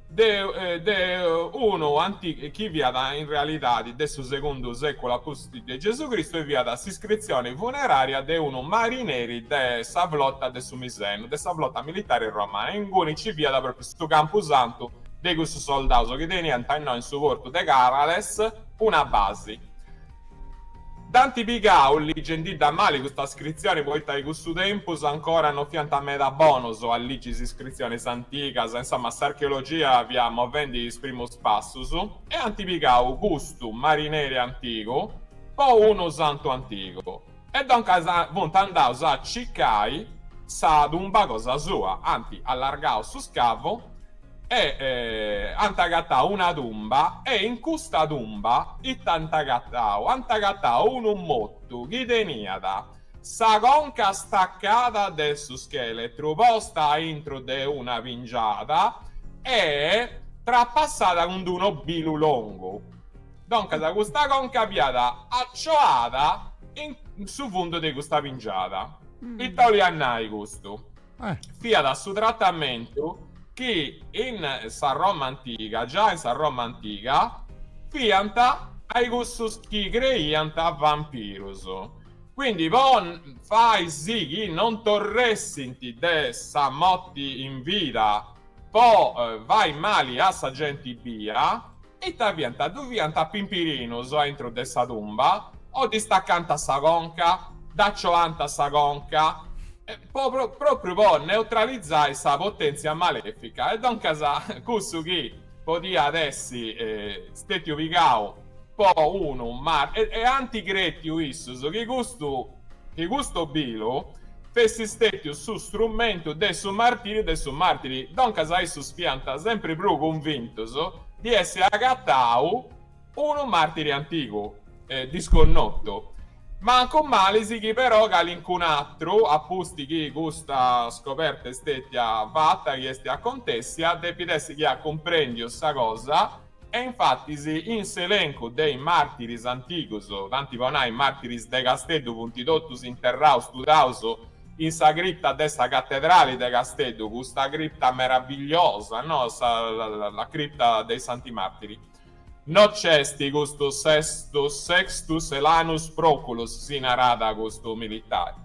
de de unu anti chi fiat in realidadi de su segundu seculu apustis de Gesu Cristu e fiat s'iscritzioni funerària de unu marineri de sa flota de su Misenu, de sa flota militari romana, inguni ci fiat propriu su campu santu de custus soldaus chi teniant innoi in su portu de Carales una basi. Dd'ant pigau ligendidda mali custa scritzioni poita in cussu tempus ancora no fiant meda bonos a ligi is iscritzionis antigas, insoma s'archeologia fiat movendi is primus passus, e ant pigau custu marineri antigu po unu santu antigu. E doncas funt andaus a cicai sa tumba cosa sua, ant allargau su scavu e ant agatau una tumba e in custa tumba ita ant agatau, ant agatau unu motu chi teniat sa conca stacada de su scheletru posta aintru de una pingiada e trapassada cun d'unu obilu longu. Doncas custa conca fiat acioada in su fundu de custa pingiada. Ita 'oliat nai custu? Fiat su tratamentu chi in sa Roma antiga, già in sa Roma antiga, fiant ai cussus chi creiant vampirus. Quindi po fai si chi non torressint de sa moti in vida po fai mali a sa genti bia, Ita fiant? Ddu fiant a pimpirinus a intro de sa tumba, o ddi stacànta sa conca, dd'acioànta sa conca, pròpriu po neutralizai sa potèntzia malèfica, e doncas cussu chi podiat essi stètiu pigau po unu e anti crètiu issus chi custu Chi custu bilu fessit stètiu su strumentu de su martìriu de su màrtiri, doncas a issus fiant sempri prus cunvintus di essi agatau unu màrtiri antigu e disconnotu, mancu mali sighit però calincun'atru, a pustis chi custa scoberta est stètia fata chi est acontèssia, depit essi chi at cumprèndiu sa cosa, E infatis in s'elencu de is màrtiris antigus, tanti po nai, màrtiris de Casteddu, funt totus interraus, studaus, in sa cripta de sa catedrali de Casteddu, custa cripta meravigliosa, no, sa la cripta dei santi martiri. No nc'est custu Sextus Helanus Proculus, si narat custu militari.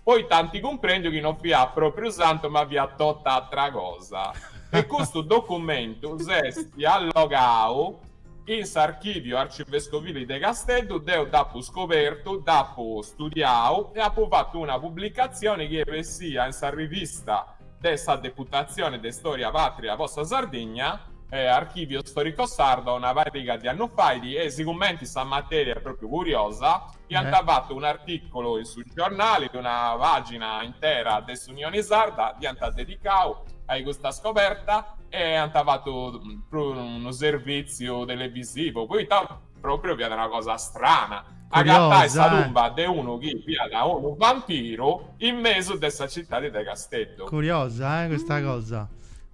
Poita ant cumprendiu chi no fiat pròpriu santu ma fiat tota atra cosa e custu documentu s'est allogau in s'archìviu arcivescovili de Casteddu, deu dd'apu scobertu, dd'apu studiau e apu fatu una publicatzioni chi est bessia in sa rivista de sa Deputatzioni de Stòria Pàtria po sa Sardigna, Archivio Storico Sardo, una pariga de annus fait e sigumenti sa matèria est pròpriu curiosa, Iant fatu un'artìculu in su giornali de una pàgina intera de s'Unioni Sarda, dd'iant dedicau a i custa scoberta e ant fatu puru unu servìtziu televisivu, poita pròpriu fiat una cosa strana, agatai sa tumba de unu chi fiat unu vampiru in mesu de sa citadi de Casteddu. Curiosa, eh, custa cosa.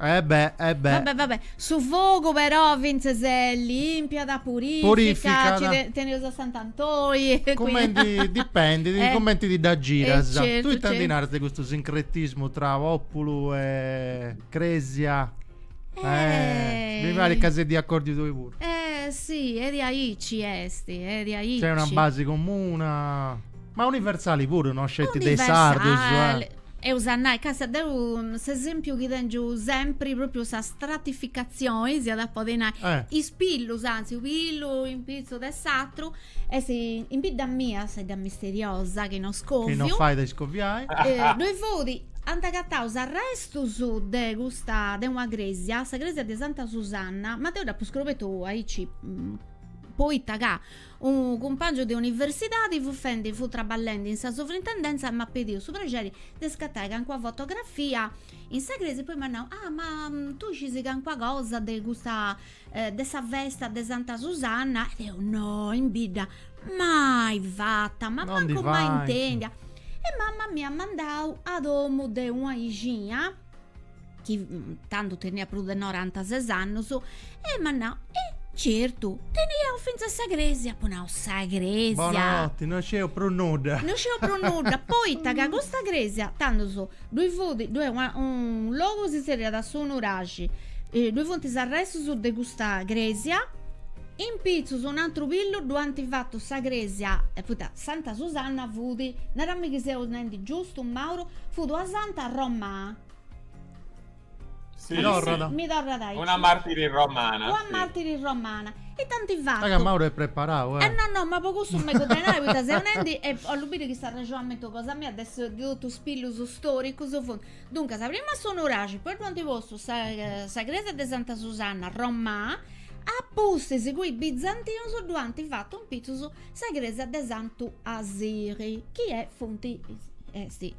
E bè, e bè. Va bè, va bè. Su fogu però fintzes limpiat, purificat, nci teneus a Sant'Antoi. Cumenti, dipendit cumenti ti dda giras. Tui ita ndi naras de custu sincretismu tra populu e cresia? Eh, mi parit ca ses de acordiu tui puru. Eh si, est aici est, est aici. Nc'est una basi comuna, ma universali puru, no sceti de is sardus. Eus a nai ca sa deu s'esempiu chi tengiu sempri propriu sa stratificazioni, si at a podi nai, is pillus, anzi u pillu in pitzu de s'atru, est in bidda mia sa idda misteriosa chi no scoviu, chi no fait a iscoviai, ddoi fut, ant agatau is arrestus de custa, de una cresia, sa cresia de Santa Susanna, ma deu dd'apu scrobetu aici, poita ca Unu cumpàngiu de universidadi fut fendi fut traballendi in sa sovrintendèntzia e m'at pediu su prexeri de iscatai cancuna fotografia in sa crèsia e poi m'at nau, ah, ma tui scisi cancuna cosa de custa de sa festa de Santa Susanna? E deu, no, in bidda mai fata, ma mancu mai intèndia. E mama m'iat mandau a domu de una bixina chi mm, tandu teniat prus de norantases annus, e m'at nau, e certu, teniaus fintzas sa cresia, apu nau, sa cresia? Bonanotti, no sceu prus nudda. No sceu prus nudda, poita ca custa cresia, tandus, ddoi fut, ddoi una, un logu si tzerriat Su Nuraxi, ddoi funt is arrestus de custa cresia, In pitzus un'antru pillu ddu ant fatu sa crèsia, poita Santa Susanna fut, nara-mì chi seus nendi giustu, Mauro, fut una santa romana. Si, si, mi torrat aici. Una martiri romana, si. Una martiri romana. E dd'ant fatu. Raga Mauro est preparau, eh. Eh no, no, ma po cussu mi cuddenai, poita seu nendi e bollu biri chi s'arrexonamentu cosa mia de su de totu is pillus storicus funt Duncas, prima su nuraxi, poi ddu ant postu sa cresia de Santa Susanna, Romà, a pustis cun is bizantinus ddu ant fatu in pitzus sa cresia de Santu Asiri, chi est funt est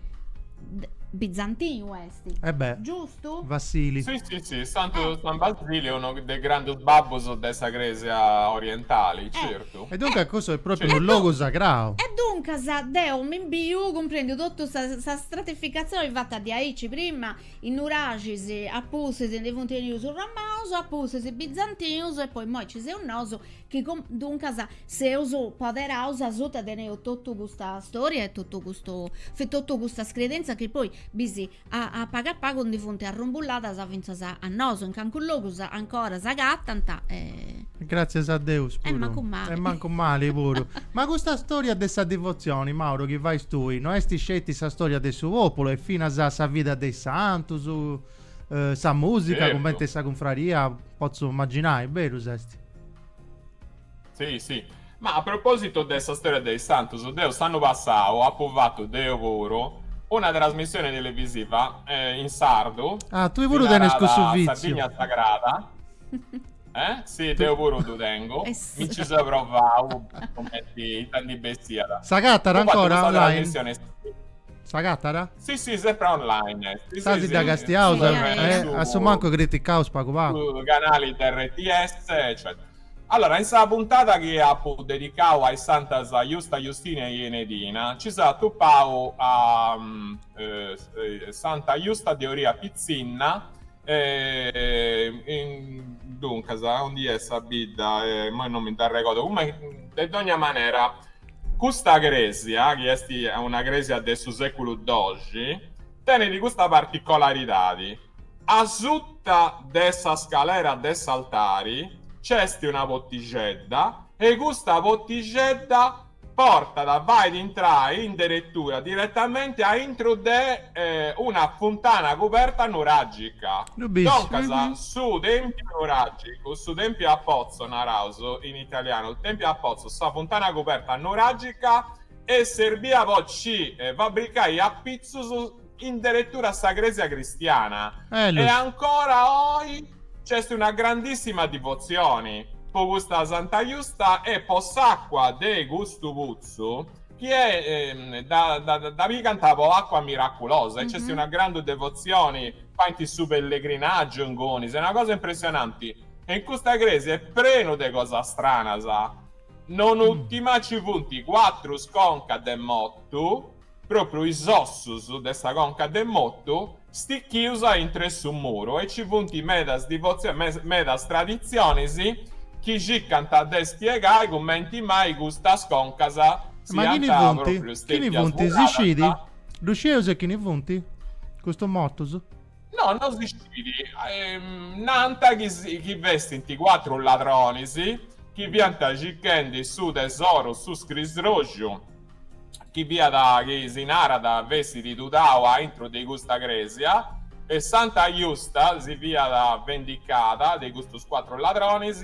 bizantinu est, E beh, giustu? Vassili. Si si si, Santu Basili est unu de is grandus babbus de sa Cresia orientali, certu. Certu. E duncas cussu est pròpriu unu logu sagrau. E duncas deu mi biu cumprèndiu totu sa sa stratificatzioni fata diaici prima, is nuraxis, a pustis ndi funt benius is romanus, a pustis bizantinus e poi immoi nci seus nosu chi duncas seus poderaus asuta teneus totu custa storia e totu custu totu custas credenzas chi poi bisi A pagu a pagu ndi funt arrumbulladas fintzas a nosu, in cancus logus ancora s'agatant e. Gràtzias a Deus puru. E mancu mali. E mancu mali puru. Ma custa stòria de sa divotzioni, Mauro, chi fais tui, no est sceti sa stòria de su pòpulu, est finas sa vida de is santus, sa mùsica, cumenti sa cunfraria, potzu imaginai, berus est? Si, si. Ma a propositu de sa storia de is santus, deu s'annu passau apu fatu, deu puru, una trasmissioni televisiva in sardu. Ah, tui puru tenis cussu vitziu. Sardigna sagrada. Eh? Si, deu puru ddu tengu. Mi nci seu provau, cumenti ita ndi bessiat. S'agatat ancora online? S'agatat? Si, si, sempri online est. Stasi dda castiaus, assumancu criticaus pagu pagu. Su canali de RTS, eccetera. Allora, in sa puntada chi apu dedicau a is santas Justa Justina e Enedina, nci seu atupau a Santa Justa de Orria Pitzinna, duncas, aundi est sa bidda, imoi non mi dd'arregodu, comunque, de dogna manera, custa cresia, chi est una cresia de su seculu doxi, tenit custa particolaridadi, Asuta de sa scalera de s'altari nc'est una potixedda e custa potixedda portat, fait intrai in deretura diretamente a intro de una funtana cuberta nuràgica. Duncas, su tèmpiu nuràgicu, su tèmpiu a pozzo naraus in italianu, il tempio a pozzo, sa funtana cuberta nuràgica, est serbia po nci fabricai apitzus, in deretura sa crèsia cristiana e ancora oi nc'est una grandissima divotzioni po custa Santa Justa e po s'acqua de custu putzu chi dda pigant po acqua miraculosa e nc'est una grandu devotzioni, faint su pellegrinàgiu inguni, est una cosa impressionanti e in custa crèsia est prenu de cosas stranas, non ùltima nci funt cuatrus concas de motu, Pròpriu is ossus de sa conca de motu, stichius a intro 'e su muru, e ci funt medas divotzioni, medas traditzionis chi circant de spiegai cumenti mai custas concas Ma siant chini funt? pròpriu Chini stètias funt? Si muradas. scit? Ddu scieus e chini funt custus motus? No, no si scidi. Ehm, nant chi festint cuatru ladronis chi fiant circhendi su tesoru su scrisroxu chi fiat chi si narat fessit tudau a intro de custa crèsia e Santa Justa si fiat vendicada de custus cuatru ladronis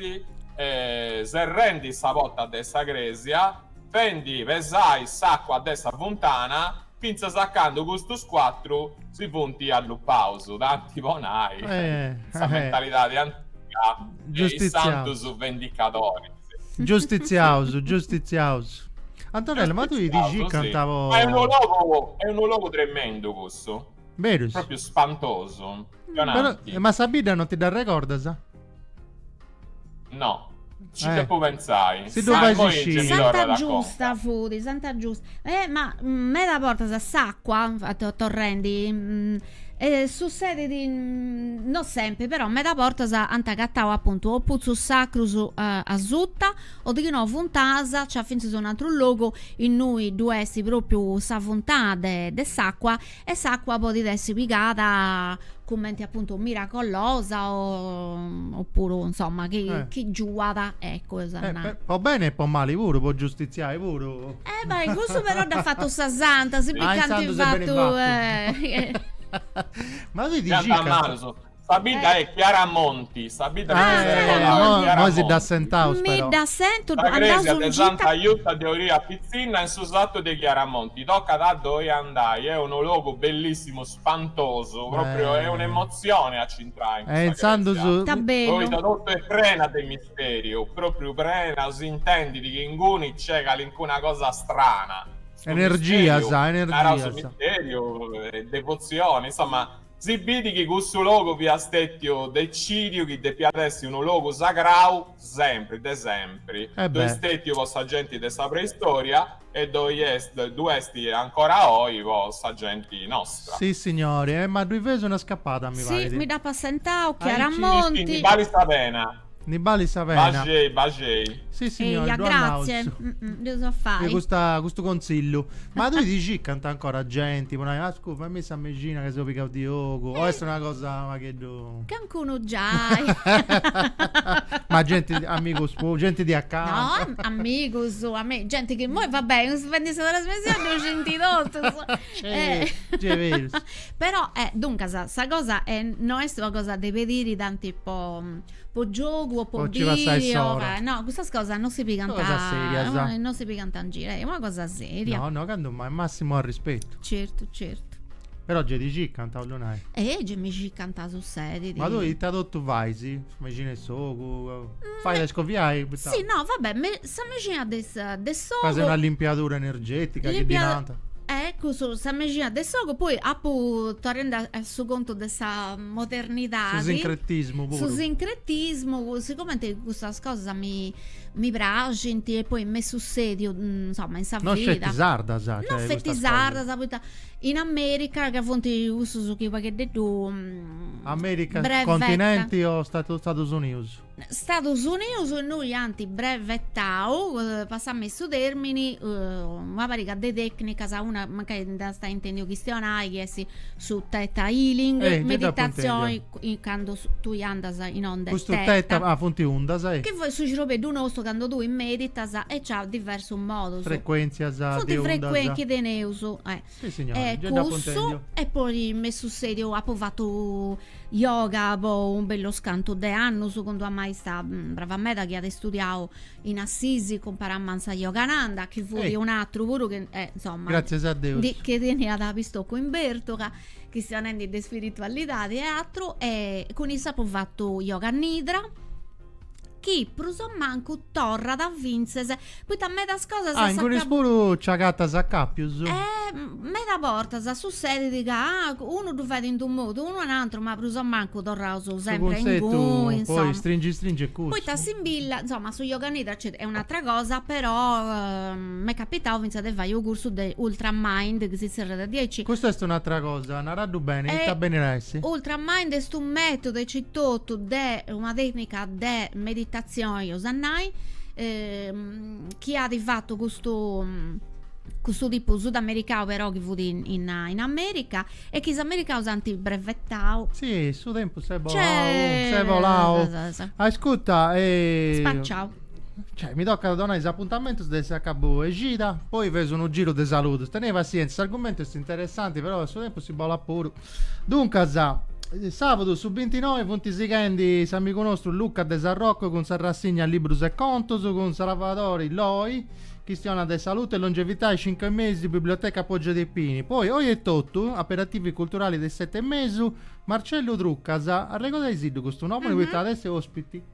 serrendi sa porta de sa crèsia fendi pesai s'acua de sa funtana fintzas a candu custus cuatru si funt allupaus, tanti po nai, in sa mentalidadi antiga de is santus vendicadoris. Giustitziaus, giustitziaus. Antonella, ma tui ti scii canta po. Ma est unu logu, est unu logu tremendu cussu. Berus. Propriu spantosu. Però, eh, ma sa bidda non ti dd'arregordas? No. Ci Eh. devo pensare. Si tu Ah, fai mo si io sci- mi torno Santa da Giusta conca. fudi, Santa Giusta. Eh, ma mm, meda bortas s'acqua, fa- to- torrendi, mm, eh, sussedit, mm, no sempri, però meda bortas ant agatau apuntu o putzus sacrus a- asuta o de chi no funtanas, nc'at fintzas un'atru logu innui ddu est propriu sa funtana de, de s'acqua e s'acqua podit essi pigada cumenti appuntu miracolosa oppuru insomma chi, eh. chi giuat ecco eh, per, po bene e po mali puru po giustiziai puru eh ma in cussu però dd'at fattu sa santa si biit, ant fattu, fattu. Eh. ma si ti circant Sa bidda è Chiaramonti, sa bidda est Chiaramonti. Nosi dd'assentaus, però mi dd'assentu. Sa crèsia de Santa Justa de Oria Pitzinna in su satu de Chiaramonti. Tocat a ddoi andai, est unu logu bellissimu, spantosu, pròpriu est un'emotzioni a ci intrai in su santu, poita totu est prena de misteriu, pròpriu prena, s'intendit chi inguni nc'est calincuna cosa strana, energias, energias, misteriu, devotzioni, insoma, Si bit chi cussu logu fiat stètiu decìdiu chi depiat essi unu logu sagrau sempri, de sempri. Ddoi est stètiu po sa genti de sa preistòria e ddu est, ddu est ancora oi po sa genti nostra. Si signori, e ma ddui feus una scapada mi Si, parit. mi dd'apo assentau, Aici. Chiaramonti. Ischi ndi balit sa pena. Ne balit sa pena. Baxei, baxei. Si signori, grazie. Mm, mm, depu fai. Custu, custu conzillu. Ma tui ti circant ancora genti, po nai, ascu', fai·mì sa mexina ca seu pigau de ogu. Eh. O est una cosa pagheddu. Cancunu giai. Ma genti, amigus, genti di acanta. No, amigus, amigus, genti chi moi, vabbè, seu fendi sa trasmissioni ddu scinti totus. Eh, eh. però eh, duncas sa cosa eh, no est una cosa de pediri tanti po, po giogu o po, po vìdeu o, eh, no cussas cosas non si pigant serias non si pigant in giro eh, una cosa seria no no cando mai massimo arrispettu certu certu però gei ti circant, 'ollu nai? Eh, gei mi circant a su seriu. Ma tui ita totu fais? Sa mexina 'e s'ogu? Fait a scoviai? Sì, no, vabbè, me, Sa mexina de s'ogu. Fais una limpiadura energetica chi ddi nant. Eh, cussu, sa mexina de s'ogu, poi apuntu, torrendi a su contu de sa modernidadi. Su sincretismu puru. Su sincretismu, sigumenti custas cosas mi mi praxint e poi m'est sussediu, insoma, in sa vida. Non sceti sardas, cioè, custas cosas. Non sceti sardas, poita in America ca funt cussus chi u' pagheddeddu. America, continenti o Stadus Unius? Stadus Unius innui ant brevetau, passammi su termini, una pariga de tecnicas, una mancai dd'ast a ai intendiu chistionai chi est su theta healing, eh, meditazioni candu tui andas in onda theta, custu funt undas, eh. Chi su cirobeddu nostru candu tui meditas e nci at diversus modus. Frecuentzias de ondas. Funt chi teneus, eh. Sì, signora, e già cussu, e poi me su seriu apo fatu yoga po un bellu scantu de annus cun d'una maista mm, brava meda chi at studiau in Assisi, cun Paramansa Yogananda, chi fut e. un'atru puru chi eh, insomma, Grazie a Deus. Di, chi teniat pistocu in bèrtula, chistionendi de spiritualidadi e atru e cun issa apo fatu yoga nidra chi prus o mancu torrat a fintzes poita medas cosas Ah, ingunis puru nci agatas acapius? Eh, meda bortas sussedit ca unu ddu fait in d'unu modu, unu in ateru, ma prus o mancu torraus sempri a inguni, insoma. Su cuntzetu poi stringi stringi est cussu. Poita s'imbilla, insoma, su yoga nidra nc'est, est un'atra cosa, però m'est capitau fintzas de fai u' cursu de ultra mind, chi si zerriat diaici. Custa est un'atra cosa, naraddu beni, ita benit a essi? Ultra mind est u' metodu aici totu de una tècnica de meditatzioni, eus a nai, chi at fatu custu custu tipu sudamericau però chi fut in in America e chi is americaus ant brevetau. Si, su tempus s'est bolau, s'est bolau. Ascurta, est spaciau. Cioè mi tocat a donai is apuntamentus de s'acabu 'e cida, poi feus unu giru de saludus, tenei passientza, s'argumentu est interessanti però su tempus si bolat puru. Duncas, sàbadu su bintinoe funt sighendi s'amigu nostru Luca de Sarroco cun sa rassigna Librus e contus, cun Salvadori Loi, chistionat de salute e longevità a is cincu e mesu, Biblioteca Poggio dei Pini. Poi, oi etotu, aperitivi culturali de is sete e mesu, Marcellu Trucas, arregodaisddu custu nomini poita at essi ospiti.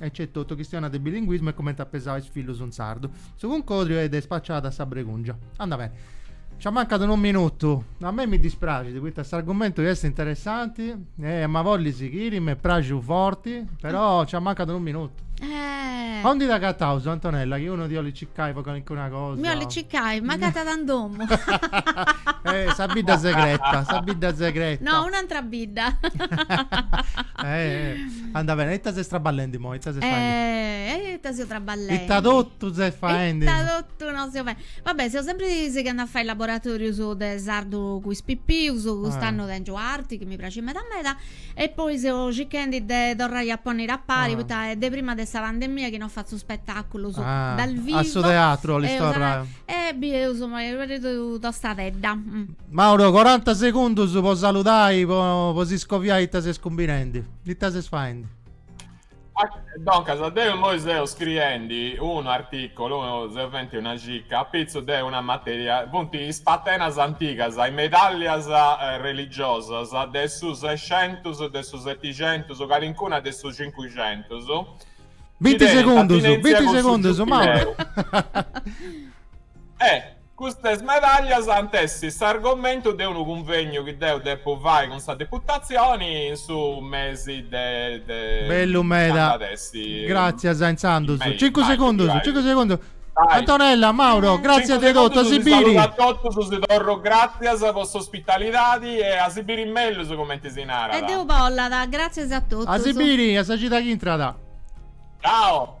Aici etotu chistionat de bilinguismu e comente at pesau is fillus in sardu. Su cuncodriu est de Spaciada sa Bregungia. Andat beni. Nc'amancat unu minutu. A mei mi dispraxit poita s'argumentu est interessanti em'a bolli sighiri, m'est praxiu forti, però nc'amancat unu minutu. Eh. Aundi t'agataus Antonella chi unu ti 'olit circai po calincuna cosa? Mi 'olit circai, m'agatat in domu. Eh, sa bidda segreta, sa bidda segreta. No, un'antra bidda. Eh. Anda bene, ita ses traballendi moi? Ita ses faendi? Eh, ita seu traballendi? Ita totu ses faendi? Ita totu no seu faendi? Va bene, seu sempri sighende a fai laboratorius de sardu cun is pipius, cust'annu ah. tengiu arti chi mi praxit meda meda e poi seu circhendi de torrai a ponniri a pari ah. poita est de prima de sa pandemia chi no fatzu spetaculus ah. dal vivo. A su teatru 'olis torrai? E bieus, abarreus tostadedda. Mauro coranta segundus po saludai po po si scoviai ita ses cumbinendi ita ses faendi. Doncas deu immoi seu scriendi unu articulu seu fendi una circa apitzu de una materia funt is patenas antigas is medallias religiosas de su sexentus de su setixentus calincuna de su cincuxentus chi Binti tenint segundus atinentzia binti cun su segundus Mauro giubileu e Custas medaglias ant essi s'argomentu de unu cunvegnu chi deu depu fai cun sa Deputatzioni in su mesi de Bellu meda. Gratzias insandus. Cincu segundus, cincu segundus. Antonella, Mauro, gratzias de totu, a si biri. Cincu segundus, si saludu a totus, si torru gratzias po s'ospitalidadi e a si biri mellus cumenti si narat. E deu bollat, gratzias a totus. A si biri, a sa cida chi intrat. Ciao.